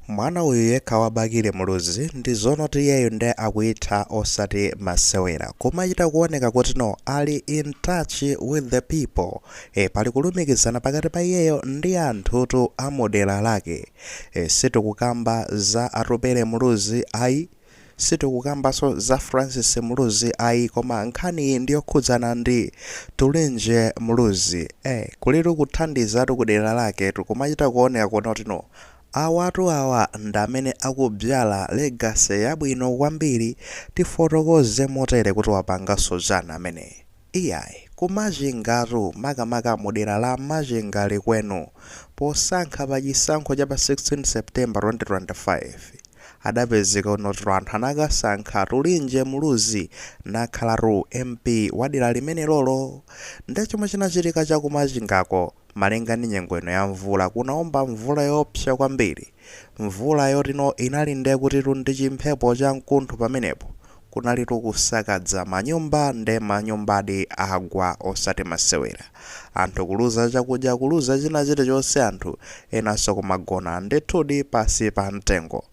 Mwana uyu yekha wa Bakili Muluzi ndi zonoti iyeyo nde akuitha osati masewera kumachita kuoneka kuti no ali in touch with the people e, pali kulumikizana pakati pa iyeyo ndi anthutu amudera lake e, sitikukamba za Atupele Muluzi ayi. Sitikukambaso za Francis Muluzi ayi koma nkhaniyi ndiyokhudzana ndi Tulinje Muluzi ee kulitu kuthandizatu kudera laketu kumachita kuoneka kunena kuti no awatu awa ndi amene akubyala legacy yabwino kwambiri tifotokoze motere kuti wapangaso chani ameneyi Iyayi, ku Machinga-tu, makamaka mu dera la Machinga Likwenu, posankha pa chisankho cha pa 16 September 2025, adapezeka kunoti anthu anakasankha Tulinje Muluzi nakhalatu MP wa dera limenelolo. Nde chomwe chinachitika cha ku Machinga-ko, Malinga ndi nyengo ino ya mvula, kunawomba mvula yoopsa kwambiri. Mvula yotino inali nde kutitu ndi chimphepo cha mkuntho pamenepo, kunalitu kusakadza manyumba nde manyumbadi agwa osati masewera. Anthu kuluza chakudya, kuluza china chilichonse anthu enanso kumagona ndithudi pansi pa mtengo.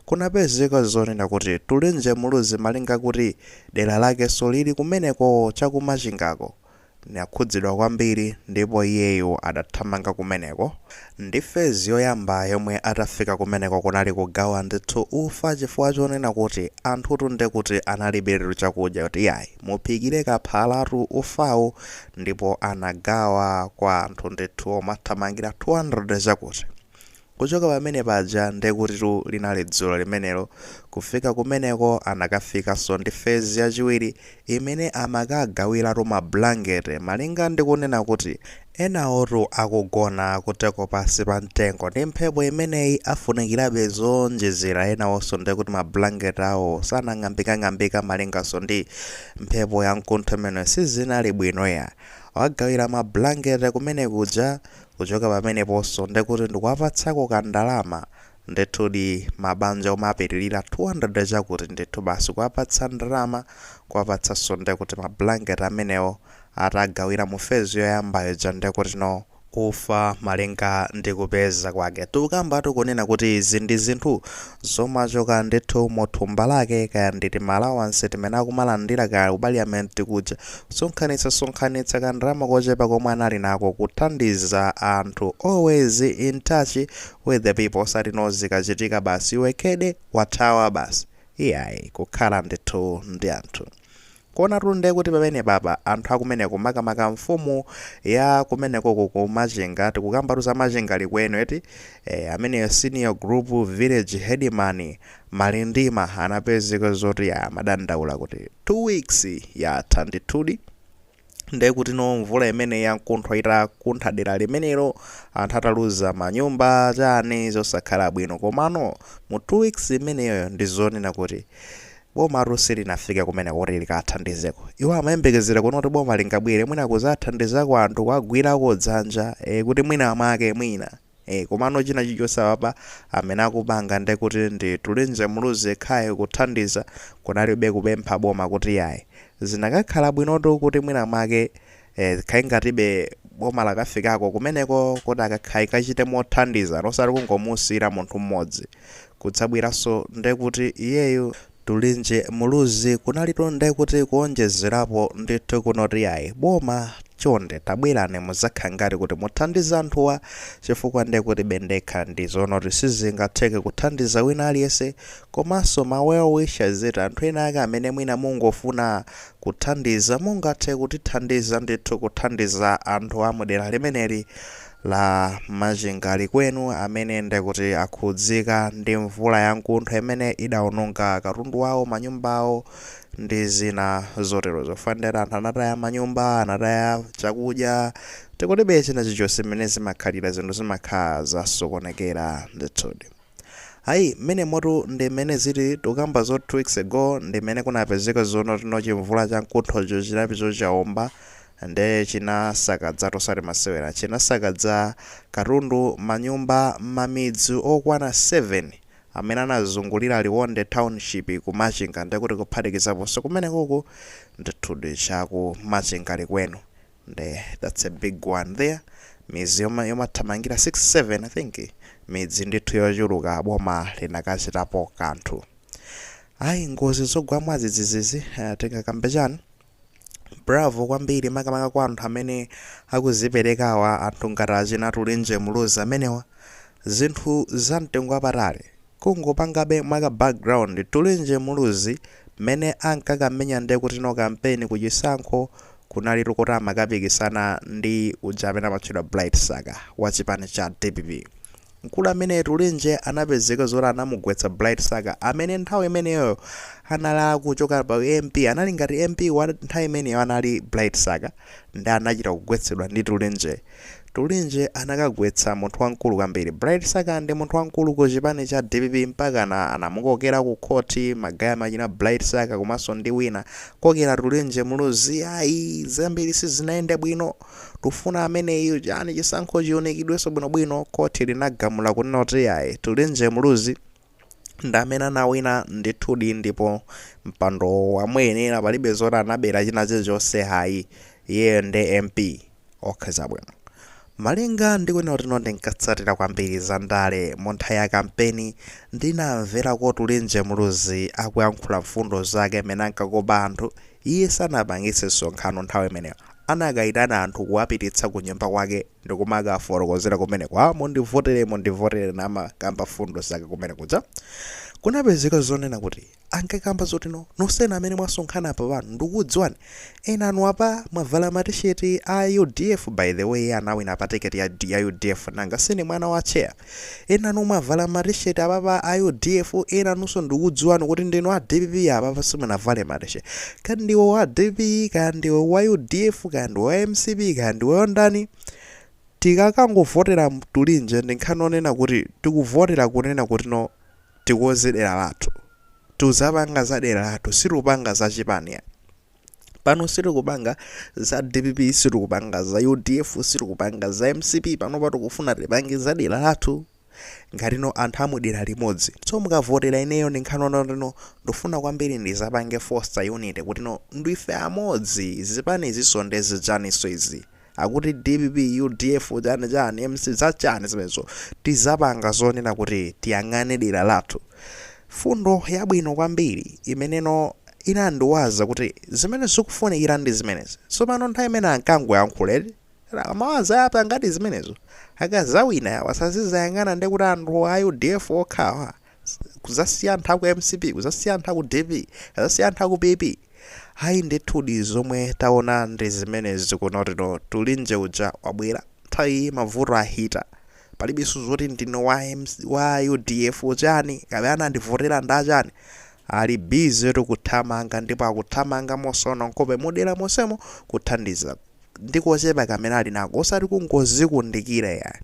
Kunapezeka zonena kuti Tulinje Muluzi malinga kuti dera lakenso lili kumeneko cha ku Machingako. Nakhudzidwa kwambiri ndipo iyeyo adathamanga kumeneko ndi phase yoyamba yomwe atafika kumeneko kunali kugawa ndithu ufa chifukwa chonena kuti anthutu ndekuti analibiretu chakudya kuti iyayi muphikire kaphalatu ufawu ndipo anagawa kwa anthu ndithu omathamangira 200 chakuti. Kuchoka pamene paja nde kutitu linali dzulo limenelo, kufika kumeneko anakafikaso ndi phase yachiwiri imene amakagawilatu ma blanket malinga ndi kunena kuti enawotu akugona kuteko pansi pa mtengo ndi mphepo imeneyi afunikilabe zoonjezera enawoso nde kuti ma blanket awo sanang'ambikang'ambika malingaso ndi mphepo ya mkuntho imeneyo sizinali bwino iya. Wagawila ma blanket kumenekuja Kuchoka pameneponso, ndiye kuti ndikuwapatsako kandalama. Ndithudi, mabanja omapitirira 200 chakuti, ndithu basi kuwapatsa ndalama, kuwapatsanso ndiye kuti ma blanket amenewo, atagawira mu phase yoyamba ija ndiye kuti no ufa malinga ndi kupeza kwake. Tikukambatu kunena kuti izi ndi zinthu zomachoka ndithu mu thumba lake, kaya ndi tima allowance timene akumalandira kaya ku parliament kuja, Sonkhanitsa sonkhanitsa ka ndalama kochepa komwe ali nako kuthandiza anthu always in touch with the people osati no zikachitika basi iwe kede wathawa basi iyayi kukhala ndithu ndi anthu. Kuonatu nde kuti pamenepapa anthu akumeneko makamaka mfumu ya kumenekoko ku Machinga tikukambatu za Machinga Likwenu eti? Eya ameneyo senior group village headman Malindima anapezeka zoti amadandaula kuti 2 weeks yatha ndithudi ndekuti no mvula imeneyi yankuntho itakuntha dera limenelo anthu ataluza manyumba chani zosakhala bwino komano mu 2 weeks imeneyoyo ndizonena kuti bomatu silinafike kumeneko kuti likathandizeko iwo amayembekezera kuona kuti boma lingabwere mwina kuzathandizako anthu kuwagwirako dzanja e, kuti mwina mwake mwina Eee komano china chilichonse apapa amene akupanga ndekuti ndi Atupele Muluzi yekhayo kuthandiza kunalibe kupempha boma kuti yayi. Zinakakhala bwinotu kuti mwina mwake ee zikhale ngatibe boma lakafikako kumeneko kuti akakhayi kachite mothandizana osati kungomusiyira munthu mmodzi kudzabweranso ndekuti iyeyo Atupele Muluzi kunalitu nde kuti kuonjezerapo ndithu kunoti ayi. Boma chonde tabwerani muzakhale ngati kuti muthandize anthuwa chifukwa ndekutibe ndekha ndi zonoti sizingatheke kuthandiza wina aliyese komanso ma well wishers eti anthu ena ake amene mwina mungofuna kuthandiza mungathe kutithandiza ndithu kuthandiza anthu amudera limeneli la Machinga Likwenu amene ndikuti akhudzika ndi mvula ya nkuntho imene idaononga katundu wawo, manyumba awo ndi zina zotero zofanira eti anthu anataya manyumba, anataya chakudya, ndekutibe china chilichonse. Mmene zimakhalira zinthu zimakhala zasokonekera ndithudi. Ayi mmenemotu ndi mmene zili tukamba zoti 2 weeks ago ndi mmene kunapezeka zonoti no chimvula cha nkunthocho chinapezeka chaomba nde chinasakazatu osati masewera chinasakaza katundu manyumba mmamidzi okwana 7 amene anazungulira Liwonde township ku Machinga ndekuti kuphatikizaponso kumenekoku ndithudi cha ku Machinga Likwenu nde that's a big one there midzi yoma- yomathamangira 6 7 i think midzi ndithu yochuluka boma linakachitapo kanthu ayi ngozi zogwa mwadzidzizizi uh, tingakambe chani bravo kwambiri makamaka kwa anthu amene akuziperekawa anthu ngati achina Atupele Muluzi amenewa zinthu za mtengo wapatali Kungopangabe mwa ka background, Tulinje Muluzi mmene ankakamenya nde kutino kampeni ku chisankho kunalitu kuti amakapikisana ndi uja amene amatchedwa Bright Msaka wa chipani cha dpp. Mkulu ameneyu Tulinje anapezeka zoti anamugwetsa Bright Msaka amene nthawi imeneyoyo anali akuchoka pa u MP, anali ngati MP wa nthawi imeneyo anali Bright Msaka nde anachita kugwetsedwa ndi Tulinjeyo. Tulinje anakagwetsa munthu wamkulu kwambiri. Bright Msaka ndi munthu wamkulu ku chipani cha dpp mpakana anamukokera ku khoti magaye achina Bright Msaka komanso ndi wina. Kokera Tulinje Muluzi ayi zambiri sizinayende bwino. Tufuna ameneyu chani chisankho chiunikidwenso bwinobwino. Khoti linagamula kunena kuti ayi Tulinje Muluzi. ndi amene anawina ndithudi ndipo mpandowo wamuyenera palibe zoti anabera china chilichonse ayi iyeyo ndi mp ok zabwino malinga ndi kunena kuti ndinkatsatira kwambiri za ndale mu nthawi ya kampeni ndinamvera kuti tulinje muluzi akuyankhula mfundo zake mmene ankakopa anthu iye sanapangitse msonkhano nthawi imeneyo anakayitana anthu kuwapititsa ku nyumba kwake ndikumakawafotokozera kumeneko mundivotere mundivotere namakamba fundo zake kumene kuja kunapezeka zonena kuti ankakamba zoti no nonsenu amene mwasonkhana apa pano ndikukudziwani ena anu apa mwavala matisheti a udf by the way anawina pa tiketi ya, ya udf nanga si ndi mwana wa chair enanu mwavala ma t-shirt apapa a udf enanunso ndikudziwani kuti ndinu a dpp apapa simunavale ma t-shirt kaya ndiwe wa dpp kaya ndiwe wa udf kaya ndiwe wa mcp kaya ndiwe wandani tikakangovotera tulinje ndi nkhani onena kuti tikuvotera kunena kuti no tikonze dera lathu tuzapanga za dera lathu situpanga za chipani pano sitikupanga za dpp sitikupanga za udf sitikupanga za mcp panopa tikufuna tipange za dera lathu ngatino anthu amudera limodzi so mukavotera ineyo ndi nkhani onena kutino ndifuna kwambiri ndizapange foster unity kutino ndife amodzi zipanizi so nde zichaninso izi Akuti dpp udf chani chani mc za chani zimenezo tizapanga zonena kuti tiyang'ane dera lathu fundo yabwino kwambiri imeneno inandiwaza kuti zimene zikufunikira ndi zimenezi tsopano nthawi imene ankangoyankhula eti awawa azapangadi zimenezo akazawina awa sazizayang'ana ndekuti anthu a udf okhawa kuzasiya anthu aku mcp kuzasiya anthu aku dpp kuzasiya anthu aku pp ayi ndithudi zomwe taona ndi zimenezi kunena kutino tulinje uja wabwera nthawi iyi mavuto ahita palibenso zoti ndinu wa udf chani kapena anandivotera ndachani ali bize ndi kuthamanga ndipo akuthamanga mosaona nkhope mudera monsemo kuthandiza ndi kochepa kamene ali nako osati kungozikundikira yayi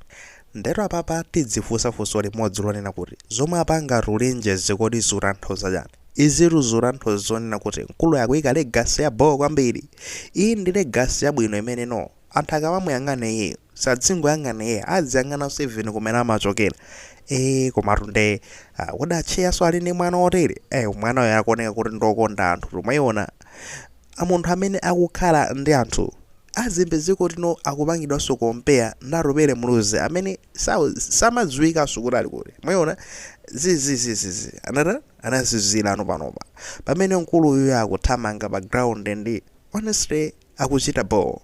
ndetu apapa tidzifunsa funso limodzi lonena kuti zomwe apanga Tulenje zi kodi zikutanthauza chani? izitu zikutanthauza zonena kuti mkuluyu akuyika legacy ya bhoo kwambiri, iyi ndi legacy yabwino imene no anthu akamamuyang'ana iyeyu sadzingoyang'ana iyeyo adziyang'ananso even kumene amachokera ee komatu nde kodi atcheyanso ali ndi mwana wotere? ee mwana uyu akuoneka kuti ndi okonda anthu tu mwayiona a munthu amene akukhala ndi anthu a zimbe dziko lino akupangidwanso compare ndi Atupele Muluzi amene samadziwikanso kuti ali kuti mwayiona zi ana anazizirano panopa pamene mkulu uyuyo akuthamanga pa ground ndi honestly akuchita bho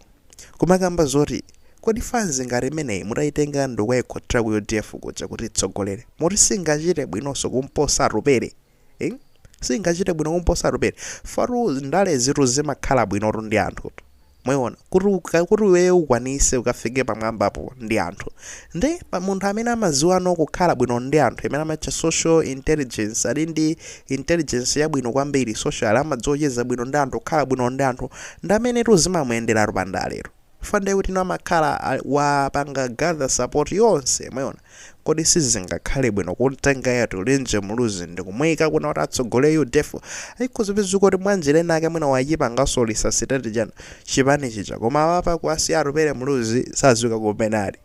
kumakamba zoti kodi fanzi ngati imeneyi mutayitenga ndikukayikhotetsera ku udf kuja kuti itsogolere moti singachite bwinonso kumposa Atupele ing, singachite bwino kumposa Atupele fatu ndalezitu zimakhala bwinotu ndi anthutu mwayiona kuti uka- kuti iweyo ukwanitse ukafike pamwambapo ndi anthu ndi munthu amene amadziwano kukhala bwino ndi anthu imene amatcha social intelligence ali ndi intelligence yabwino kwambiri social amadziwa kucheza bwino ndi anthu kukhala bwino ndi anthu ndi amenetu zimamuyenderatu pandaletu chifukwa ndiye kuti no amakhala ali- wapanga gather support yonse mwaona kodi sizingakhale bwino kumtenga iye Tulenje Muluzi ndikumuyika kuna kuti atsogolere udf ayiku zipiziko kuti mwanjira ina yake mwina wachipanganso lisasitati chanu chipani chija koma awa apa kuwasiya Atupele Muluzi sadziwika kumene ali,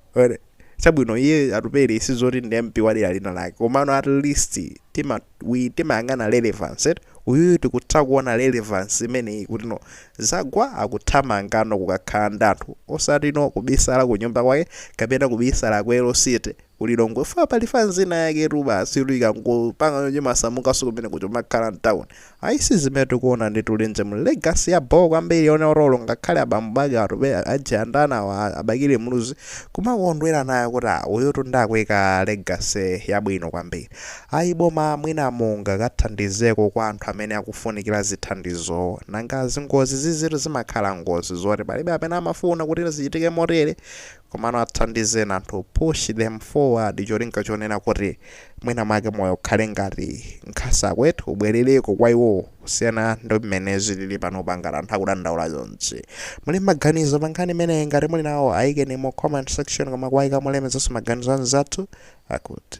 chabwino iye Atupele sizoti ndi mp wadera lina lake komano at least tima we timayang'ana relevance eti uyuyu tikutha kuona relevance imeneyi kuti no zagwa akuthamanga no kukakhala ndi anthu osati no kubisala ku nyumba kwake kapena kubisala ku LCT ku Lilongwe fa pali fanz ina yake tu basi tu ikangopanga yonje masamukanso kumene kuti umakhala mtown ayi si zimene tikuona ndi Tulenje mu legacy ya bho kwambiri yone olo olo ngakhale abambo bake atcheya ajanda awa a Bakili Muluzi kumakondwera nayo kuti ah uyu tu nde akuika legacy yabwino kwambiri Ayi boma mwina mungakathandizeko kwa anthu amene akufunikira zithandizowo. Nanga zingozi zi zitu zimakhala ngozi zoti palibe amene amafuna kuti zichitike motere komano athandizeni anthu push them forward cholinga chonena kuti mwina mwake moyo ukhale ngati ngati kuti ubwerereko kwa iwowo kusiyana ndi mmene zilili panopa ngati anthu akudandaula chonchi. Muli maganizo pa nkhani imeneyi? Ngati muli nawo ayikeni mu comment section koma kuwayika molemekezanso maganizo a anzathu akut.